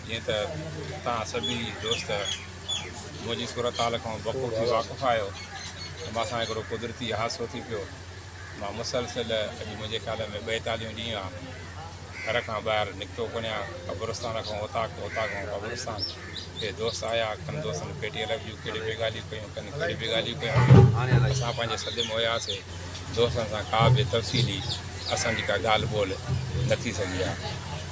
جيئن ته توهان سڀيئي دوست منهنجي صورتحال کان بخوبي واقف آهيو ته مان سان هڪڙو قدرتي حادثو ٿي پيو. مان مسلسل اڄ منهنجي خيال ۾ ٻيتاليهون ڏينهن آ گهر کان ٻاهر نڪتو ڪونهيان قبرستان کان اوطاق اوطاق کان قبرستان ڪي دوست آيا ڪن دوستن پيٽي الف جون ڪهڙي به ڳالهيون ڪيون ڪن ڪهڙي به ڳالهيون ڪيون اسان پنهنجي سڌ م هياسي دوستن سان ڪا به تفصيلي اسان جي ڪا ڳالهه ٻولهه نه ٿي سگهي آ.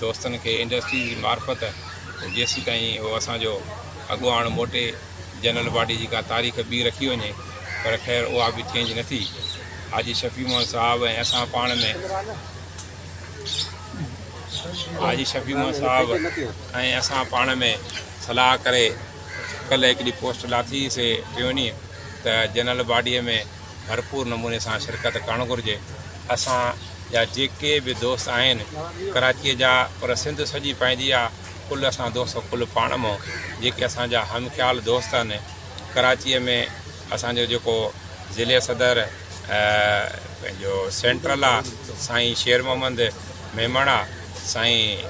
دوستن کي انڊسٽري جي معرفت جيسيتائين اهو اسان جو اڳواڻ موٽي جنرل باڊي جي ڪا تاريخ ٻي رکي وڃي پر خير اها به چينج نه ٿي حاجي شفيع محمد صاحب ۽ اسان پاڻ ۾ حاجي شفيع محمد صاحب ۽ اسان پاڻ ۾ صلاح ڪري ڪلهه هڪ ڏينهن پوسٽ لاتي سي ٽيوني ته جنرل باڊيء ۾ ڀرپور نموني سان شرڪت ڪرڻ گهرجي اسان جا جيڪي به دوست آهن ڪراچي جا پر سنڌ سڄي پنهنجي آ ڪل اسان دوست ڪل پاڻ مئو جيڪي اسان جا هم خيال دوست آهن ڪراچي ۾ اسان جو جيڪو ضلعي صدر پنهنجو سينٽرل آ سائين شير محمد ميمڻ آ سائين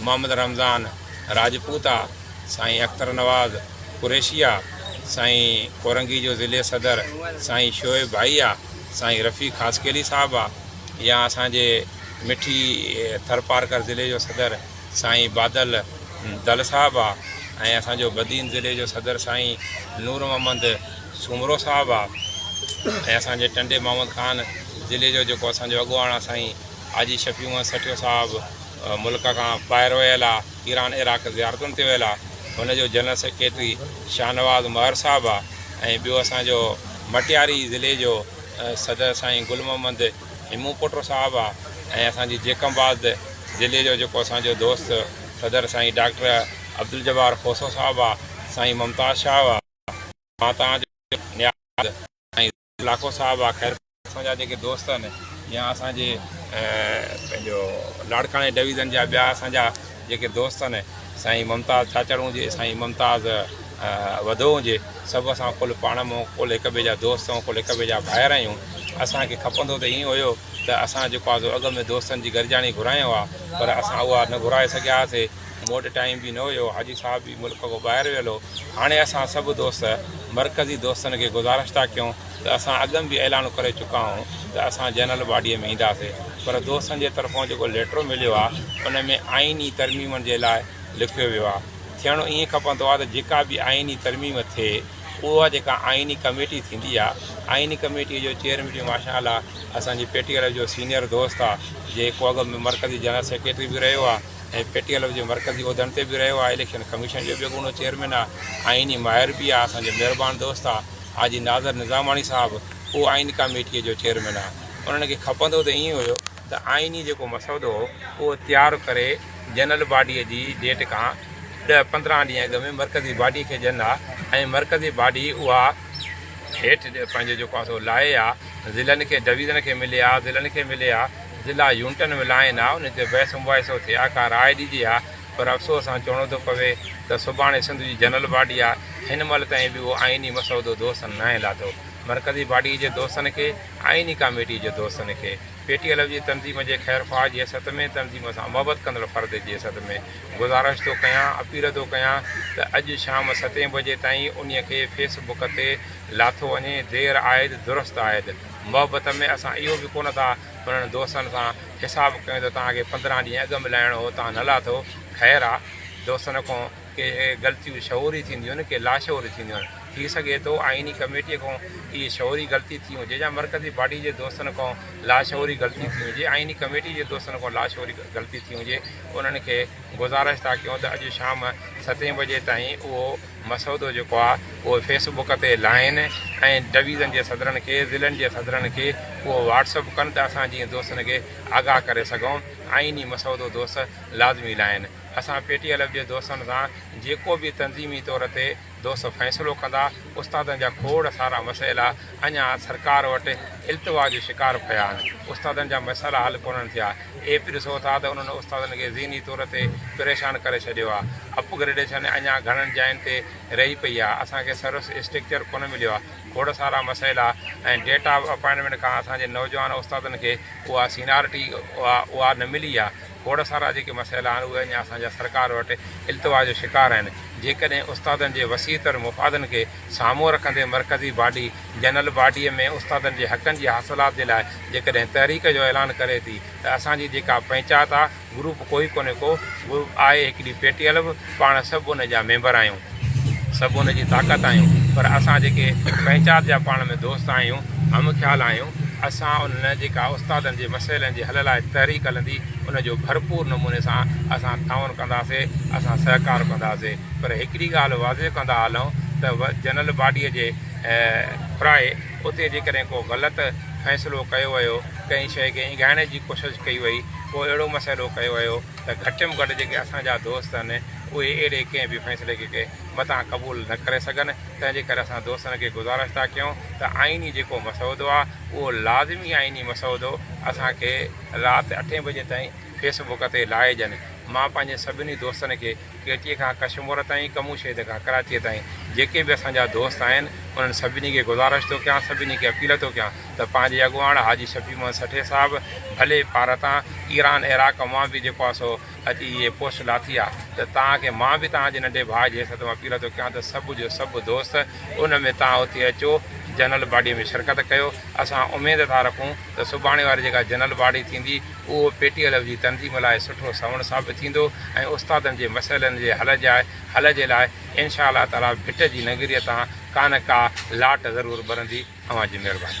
محمد رمضان راجپوت آ سائين اختر نواز قريشيا، سائين ڪورنگي جو ضلعي صدر سائين شعيب ڀائي آ، سائين رفيق خاصخيلي صاحب آ يا اسان جي مٺي ٿرپارڪر ضلعي جو صدر سائين بادل دل صاحب آ ۽ اسان جو بدين ضلعي جو صدر سائين نور محمد سومرو صاحب آ ۽ اسان جي ٽنڊي محمد خان ضلعي جو جيڪو اسان جو اڳواڻ آ سائين حاجي شفيع محمد سٺيو صاحب ملڪ کان ٻاهر ويل آ. ايران عراق زيارتن تي ويل آ هن جو جنرل سيڪريٽري شاهنواز مهر صاحب آ ۽ ٻيو اسان جو مٽياري ضلعي جو صدر سائين گل محمد هيمون پوٽو صاحب آ ۽ اسان جي جيڪب آباد ضلعي جو جيڪو اسان جو دوست صدر سائين ڊاڪٽر عبدالجبار کوسو صاحب آ سائين ممتاز شاهه آ مان توهان جو نياز سائين لاکو صاحب آخر اسان جا جيڪي دوست آهن يا اسان جي پنهنجو لاڙڪاڻي ڊويزن جا ٻيا اسان جا جيڪي دوست آهن سائين ممتاز ڇاڇڙ هجي سائين ممتاز وڌو هجي سڀ اسان ڪل پاڻ مون ڪل هڪ ٻئي جا دوست آهيون ڪل هڪ ٻئي جا ڀائر آهيون اسان کي کپندو ته ائين هيو ته اسان جيڪو آزو اڳ ۾ دوستن جي گڏجاڻي گهرايو آهي پر اسان اها نه گهرائي سگهياسي مون وٽ ٽائيم به نه هيو، حاجي صاحب به ملڪ کان ٻاهر ويل هو، هاڻي اسان سڀ دوست مرڪزي دوستن کي گذارش ٿا ڪيون ته اسان اڳم به اعلان ڪري چڪا هئون ته اسان جنرل باڊيء ۾ اينداسي پر دوستن جي طرفان جيڪو ليٽر مليو آ ان ۾ آئيني ترميمن جي لاء لکيو ويو آ ٿيڻو ائين کپندو آ ته جيڪا به آئيني ترميم ٿئي اها جيڪا آئيني ڪميٽي ٿيندي آ آئيني ڪميٽيء جو چيئرمين به ماشاء الله اسان جي پي ٽي ايل جو سينيئر دوست آ جيڪو اڳم مرڪزي جنرل سيڪريٽري به رهيو آ ۽ پي ٽي ايل جي مرڪزي عهدن تي به رهيو آهي اليڪشن ڪميشن جو بيگونو چيئرمين آهي آئيني ماهر به آهي اسان جو مهربان دوست آهي حاجي ناظر نظاماڻي صاحب اهو آئيني ڪاميٽي جو چيئرمين آهي انهن کي کپندو ته ائين هيو ته آئيني جيڪو مسودو هو اهو تيار ڪري جنرل باڊي جي ڊيٽ کان ڏهه پندرهن ڏينهن اڳ ۾ مرڪزي باڊي کي ڏين ها ۽ مرڪزي باڊي اها هيٺ پنهنجو جيڪو آهي سو لاهي ها ضلعن کي ڊويزن کي ملي ها ضلعن کي ملي ها ضلع يونٽن ولائين ها ان تي بحث مباحثو ٿئي ها ڪا راء ڏجي ها پر افسوس سان چوڻو ٿو پوي ته سڀاڻي سنڌ جي جنرل باڊي آ هن مهل تائين به اهو آئيني مسودو دوستن ناهي لاٿو مرڪزي باڊي جي دوستن کي آئيني ڪاميٽي جي دوستن کي پي ٽي ايل ايف جي تنظيم جي خير خواهه جي حيثيت ۾ تنظيم سان محبت ڪندڙ فرد جي حيثيت ۾ گذارش ٿو ڪيان اپيل ٿو ڪيان ته اڄ شام ستين بجي تائين انهي کي فيس بڪ تي لاٿو وڃي دير آيد درست آيد. محبت ۾ اسان اهو به ڪونه ٿا انهن دوستن سان حساب ڪيون ته توهان کي پندرهن ڏينهن اڳ ملائڻو هو توهان نه لاٿو خير آ دوستن کون ڪي غلطيون شعوري ٿينديون آهن ڪي لاشعوري ٿينديون آهن ٿي سگهي ٿو آئيني ڪميٽي کون اهي شعوري غلطي ٿي هجي يا مرڪزي باڊي جي دوستن کون لاشعوري غلطي ٿي هجي آئيني ڪميٽي جي دوستن کون لاشعوري غلطي ٿي هجي انهن کي گذارش ٿا ڪيون ته اڄ شام ستين بجي تائين اهو مسودو جيڪو آهي اهو فيس بڪ تي لائين ۽ ڊويزن جي صدرن کي ضلعن جي صدرن کي اهو واٽس اپ ڪن ته اسان جيئن دوستن کي آگاهه ڪري سگهون آئيني مسودو دوست لازمي لائين اسان پي ٽي ايل ايف جي دوستن سان جيڪو به تنظيمي طور تي دوست فيصلو ڪندا استادن جا کوڙ سارا مسئلا اڃان سرڪار وٽ التوا جو شڪار پيا آهن استادن جا مسئلا حل ڪونهن ٿيا اهي به ڏسو ٿا ته انهن استادن کي ذهني طور تي پريشان ڪري ڇڏيو آهي. اپ گريڊيشن اڃان گهڻن جاين تي رهي پئي آهي. اسان کي سروس اسٽرڪچر ڪونه مليو آهي. کوڙ سارا مسئلا ۽ ڊيٽ آف اپائنٽمينٽ کان اسان جي نوجوان استادن کي اها سينارٽي اها نه ملي آهي. کوڙ سارا جيڪي مسئلا آهن اهي اڃان اسان جا سرڪار وٽ التوا جو شڪار آهن. جيڪڏهن استادن جي وسيع تر مفادن کي سامهون رکندي مرڪزي باڊي جنرل باڊيء ۾ استادن جي حقن جي حاصلات جي لاء جيڪڏهن تحريڪ جو اعلان ڪري ٿي ته اسان جي جيڪا پنهچات آ گروپ ڪوئي ڪونهي ڪو به آء هڪڙي پي ٽي ايل به پاڻ سڀ ان جا ميمبر آهيون سڀ ان جي طاقت آهيون پر اسان جيڪي پنهچات جا پاڻ ۾ دوست آهيون هم خيال آهيون اسان انهن جيڪا استادن جي مسئلن جي حل لاء تحريڪ هلندي ان جو ڀرپور نموني سان اسان تعاون ڪنداسي اسان سهڪار ڪنداسي پر هڪڙي ڳالهه واضح ڪندا هلون ته جنرل باڊيء جي پرائي اتي جيڪڏهن ڪو غلط فيصلو ڪيو ويو ڪنهن شيء کي اينگهائڻ جي ڪوشش ڪئي وئي ڪو اهڙو مسئلو ڪيو ويو ته گهٽ م گهٽ جيڪي اسان جا دوست آهن اهي اهڙي ڪنهن به فيصلي کي متان قبول نه ڪري سگهن تنهن جي ڪري اسان دوستن کي گذارش ٿا ڪيون ته آئيني جيڪو مسودو آهي اهو لازمي آئيني مسودو اسان کي رات اٺين بجي تائين فيس بڪ تي لائي ڏين مان پنهنجي سڀني دوستن کي ڪيٽيء کان ڪشمور تائين، ڪموشيد کان ڪراچيء تائين جيڪي به اسان جا دوست آهن، انهن سڀني کي گذارش ٿو ڪيان، سڀني کي اپيل ٿو ڪيان ته پنهنجي اڳواڻ حاجي شفيع محمد سٺي صاحب ڀلي پار تان ايران عراق مان به جيڪو آهي سو اچي هيء پوسٽ لاٿي آهي ته توهان کي مان به توهان جي ننڍي ڀاء جي حيثيت مان اپيل ٿو ڪيان ته سڀ جو سڀ دوست ان ۾ توهان اتي اچو جنرل باڊيء ۾ شرڪت ڪيو، اسان اميد ٿا رکون. ته سڀاڻي واري جيڪا جنرل باڊي ٿيندي اهو پي ٽي ايل جي تنظيم لاء سٺو سنوڻ ثابت ٿيندو ۽ استادن جي مسئلن جي حل جاء حل جي لاء انشاء الله تعالي ڀٽ جي ننگريء تان ڪانه ڪا لاٽ ضرور ٻرندي اوهان جي مهرباني.